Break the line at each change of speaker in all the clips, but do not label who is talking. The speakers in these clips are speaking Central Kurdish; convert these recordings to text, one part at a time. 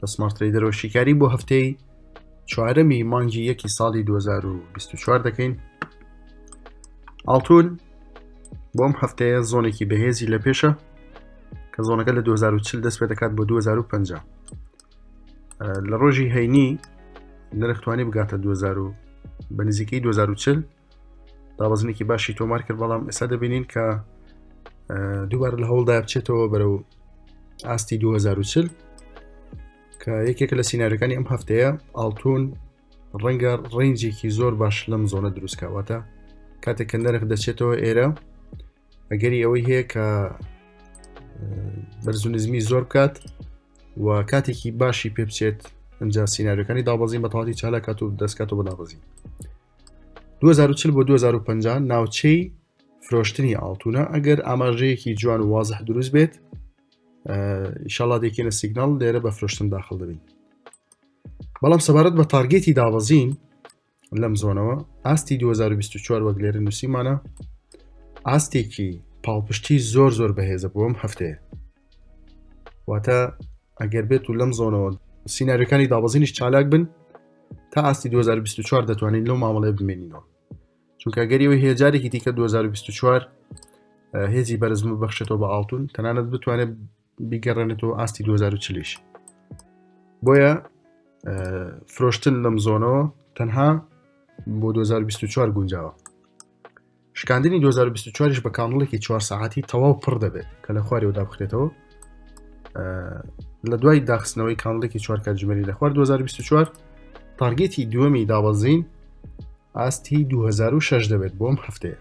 لە سمارت تریدەرەوە شیکاری بۆ هەفتەی چوارەمی مانگی یەکی ساڵی 2024 دەکەین ئاڵتون بۆم هەفتەیە زۆنێکی بەهێزی لە پێشە کە زۆنەکە لە 2040 دەست پێ دەکات بۆ 2050 لە ڕۆژی هەینی نرختوانی بگاتە 2000 بە نزیکەی 2040 دابەزنێکی باشی تۆمار کرد بەڵام ئێستا دەبینین کە دووبار لە هەوڵدا بچێتەوە بەرەو ئاستی 2040 کە یەکێکە لە سینناریەکانی ئەم هەفتەیە ئاڵتون ڕەنگە ڕنجێکی زۆر باش لەم زۆنە دروستکەواتە کاتێک کە نرخ دەچێتەوە ئێرە ئەگەری ئەوەی هەیە کە بەرزونزمی زۆر بکات و کاتێکی باشی پێ بچێت ئەجا سینناریەکانی دابەزین بە تاڵی چالاکات و دەستکات و بەدابەزین 2040 بۆ 2050 ناوچەی فرۆشتنی ئاڵتونە ئەگەر ئاماژەیەکی جوان و وازح دروست بێت ئیشەڵا دێکێنە سیگنال لێرە بە فرۆشتن داخل دەبین بەڵام سەبارەت بە تارگێتی دابەزین لەم زۆنەوە ئاستی 2024 وەک لێرە نووسیمانە ئاستێکی پاڵپشتی زۆر زۆر بەهێزە بۆم هەفتەیە واتە ئەگەر بێت و لەم زۆنەوە سینناریەکانی دابەزینیش چالاک بن تا ئاستی 2024 دەتوانین لەو مامەڵێ بمێنینەوە چونکە گەریەوە هەیە جارێکی دیکە 2024 هێزی بەرزم بەخشێتەوە بە ئاڵتون تەنانەت بتوانێت بیگەڕێنێتەوە ئاستی 2040 بۆیە فرۆشتن لەم زۆنەوە تەنها بۆ 2024 گونجاوە شکاندنی 2024 یش بە کانڵێکی چوار سەعاتی تەواو پڕ دەبێت کە لە خوارەوە دابخرێتەوە لە دوای داخستنەوەی کانڵێکی چوار کاتژمێری لە خوار 2024 تارگێتی دووەمی دابەزین ئاستی 2006 دەبێت بۆم هەفتەیە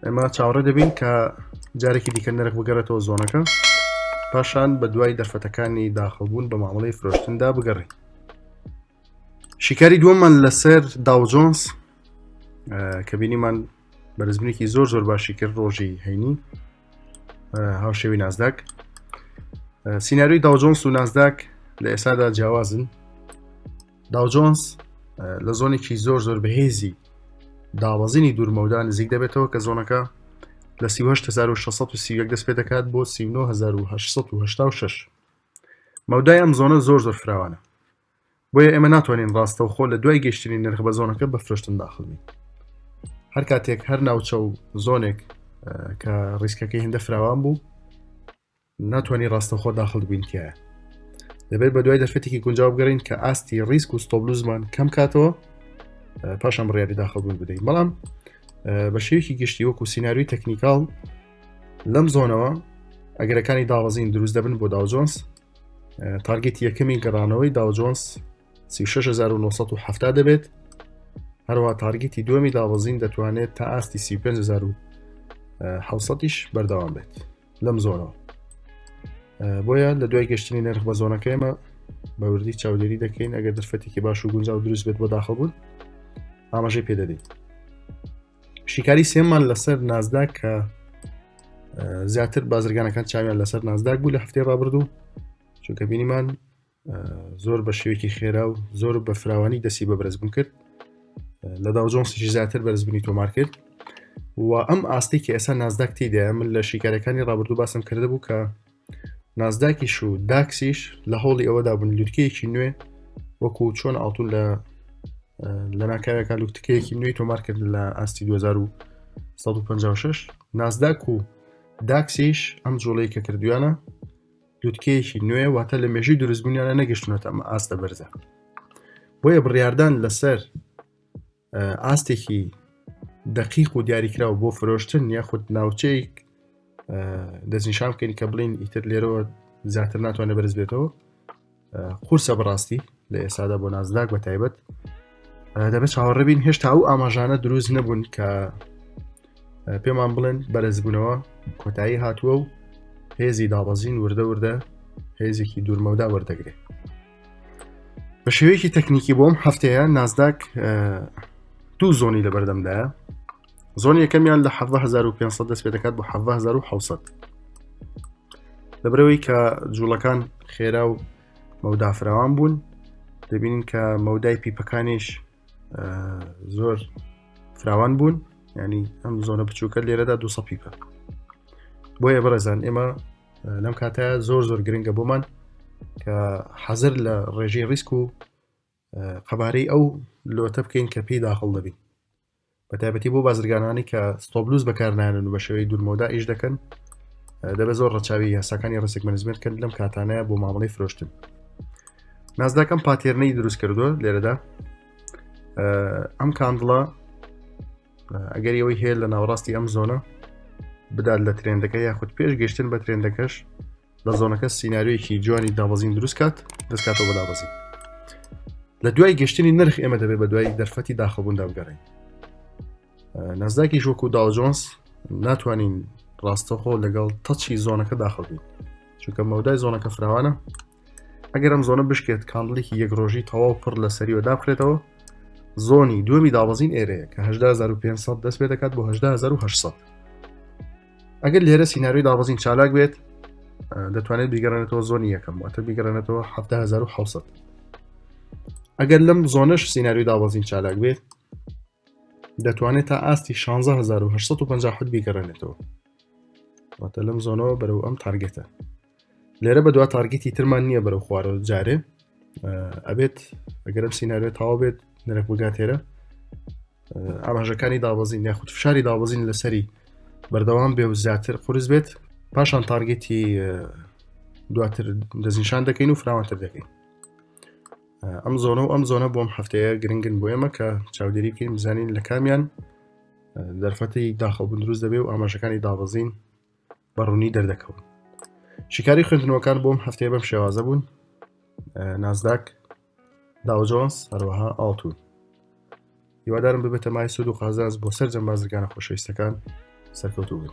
ئێمە چاوەڕێ دەبین کە جارێکی دیکە نرخ بگەڕێتەوە زۆنەکە پاشان بە دوای دەرفەتەکانی داخڵبوون بە مامەڵی فرۆشتندا بگەڕین شیکاری دووەممان لەسەر داوجۆنس کە بینیمان بەرزبنێکی زۆر زۆر باشی کرد ڕۆژی هەینی هاوشێوی نازداک سینناروی داوجۆنس و نازداک لە ئێستادا جیاوازن داوجۆنس لە زۆنێکی زۆر زۆر بەهێزی داوازینی دوورمەودا نزیک دەبێتەوە کە زۆنەکە لە 1970 دەست پێ دەکات بۆ 1970 مەودای ئەم زۆنە زۆر زۆر فراوانە بۆیە ئێمە ناتوانین ڕاستەوخۆ لە دوای گەشتنی نرخ بە زۆنەکە بە فرۆشتن داخڵین هەر کاتێک هەر ناوچە و زۆنێک کە ڕیسکەکەی هەندە فراوان بوو ناتوانانی ڕاستەخۆ داخل بینکە دەبێت بە دوای دەرفەتێکی گونجاو بگەڕین کە ئاستی ڕیسک و ستۆبلوزمان کەم کاتەوە پاشان بڕیاری داخڵبوون بدەین بەڵام بە شێوکی گشتی وەکو سینناروی تەکنیکال لەم زۆنەوە ئەگەرەکانی داوەزین دروست دەبن بۆ داوجۆنس تارگێت یەکەمی گەڕانەوەی داوجۆنس 1970 دەبێت هەروە تارگیتی دومی دابەزین دەتوانێت تا ئاستی 35هیش بەردەوام بێت لەم زۆنەوە بۆیە لە دوای گەشتنی نرخ بە زۆنەکە ئێمە بەوردی چاودێری دەکەین ئەگەر دەرفەتێکی باش و گونجاو دروست بێت بۆ داخەبوون ئاماژەی پێدەدەین شیکاری سێمان لەسەر نازداک کە زیاتر بازرگانەکان چاویان لەسەر نازداک بوو لە هەفتێ ڕابردوو چونکە بینیمان زۆر بە شێوێکی خێرا و زۆر بە فراوانی دەسی بە بەرزبوون کرد لە داوجۆنسیشی زیاتر بەرزبنی تۆمار کرد و ئەم ئاستی کە ئێستا نازداک تیدایە من لە شیکارەکانی ڕابردوو باسم کرده بوو کە نازداکیش و داکسیش لە هەوڵی ئەوەدا بوون لوتکەیەکی نوێ وەکو چۆن ئاڵتون لە لە ناکاوێکا لوتکەیەکی نوێی تۆمار کرد لە ئاستی 1956 نازداک و داکسیش ئەم جوڵەی کە کردویانە لوتکەیەکی نوێ واتە لە مێژی دروستبوونیانە نەگەشتونەتە ئەمە ئاستە بەرزە بۆیە بڕاردان لەسەر ئاستێکی دقیق و دیاریکراوە بۆ فرۆشتن یاخود ناوچەیەک دەستنیشان بکەین کە بڵین ئیتر لێرەوە زیاتر ناتوانێت بەرز بێتەوە قورسە بەڕاستی لە ئێسادا بۆ نازداک بە تایبەت دەبێت چاوەڕبین هێشتا ئەو ئاماژانە دروست نەبوون کە پێمان بڵێن بەرزبوونەوە کۆتایی هاتووە و هێزی دابەزین وردە وردە هێزێکی دوورمەودا وەردەگرێت بە شێوەیەکی تەکنیکی بۆم هەفتەیە نازداک دوو زۆنی لە بەردەمدایە زۆن یەکەمیان لە 1500 دەست پێ دەکات بۆ 1970 لەبرەوەی کە جوڵەکان خێرا و مەودافراوان بوون دەبینین کە مەودای پیپەکانیش زۆر فراوان بوون ینی ئەم زۆنە بچووکە لێرەدا دو سەپیکە بۆیە بەڕێزان ئێمە لەم کاتە زۆر زۆر گرنگە بۆمان کە حەزر لە ڕێژەی ڕیسک و قەبارەی ئەو لۆتە بکەین کە پێی داخڵ دەبین بەتایبەتی بۆ بازرگانانی کە ستۆبلوز بەکارنانن و بە شێوەی دوورمەودا ئیش دەکەن دەبێت زۆر ڕەچاوی یاساکانی ڕسک منزمێت کرد لەم کاتانەیە بۆ مامەڵی فرۆشتن نازداکەم پاتێرنەی دروست کردووە لێرەدا ئەم کاندڵە ئەگەر ئەوەی هەیە لە ناوڕاستی ئەم زۆنە بدات لە ترێندەکە یاخود پێش گەشتن بە ترێندەکەش لە زۆنەکە سینناریۆیەکی جوانی دابەزین دروست کات دەستکاتەوە بە دابەزین لە دوای گەشتنی نرخ ئێمە دەبێت بە دوای دەرفەتی داخەبووندا بگەڕین نازداکی ژۆک و داجۆنس ناتوانین ڕاستەخۆ لەگەڵ تەچی زۆنەکە داخەبین چونکە مەودای زۆنەکە فراوانە ئەگەر ئەم زۆنە بشکێت کاندڵێکی یەک ڕۆژی تەواو پڕ لە سەریوە دابخرێتەوە زۆنی دومی دابەزین ئێرەیە کە 1950 دەست پێ دەکات بۆ 1970 ئەگەر لێرە سینناروی دابەزین چالاک بێت دەتوانێت بیگەڕێنێتەوە زۆنی یەکەم واتە بیگەڕێنێتەوە 1970 ئەگەر لەم زۆنش سینناروی دابەزین چالاک بێت دەتوانێت تا ئاستی 1650 بیگەڕێنێتەوە واتە لەم زۆنەوە بەرەو ئەم تارگێتە لێرە بە دوا تارگیتی ترمان نییە بەرەو خوارەوە جارێ ئەبێت ئەگەرم سینناوێت تاوا بێت نرخ بگاتێرە ئاماژەکانی دابەزین یاخود فشاری دابەزین لەسەری بەردەوام بێ و زیاتر قرس بێت پاشان تارگێتی دواتر دەستنیشان دەکەین و فراوانتر دەکەین ئەم زۆنە و ئەم زۆنە بۆم هەفتەیە گرنگن بۆ ئێمە کە چاودێری بکەین بزانین لە کامیان دەرفەتی داخەڵ بندروست دەبێ و ئاماژەکانی دابەزین بە ڕوونی دەردەکەون شیکاری خوێندنەوەکان بۆم هەفتەیە بەم شێوازە بوون نازداک داوجۆنس هەروەها ئاڵتون هیوادارم ببێتە مای سود و قازانز بۆ سەر جەم بازرگانە خۆشەویستەکان سەرکەوتو بن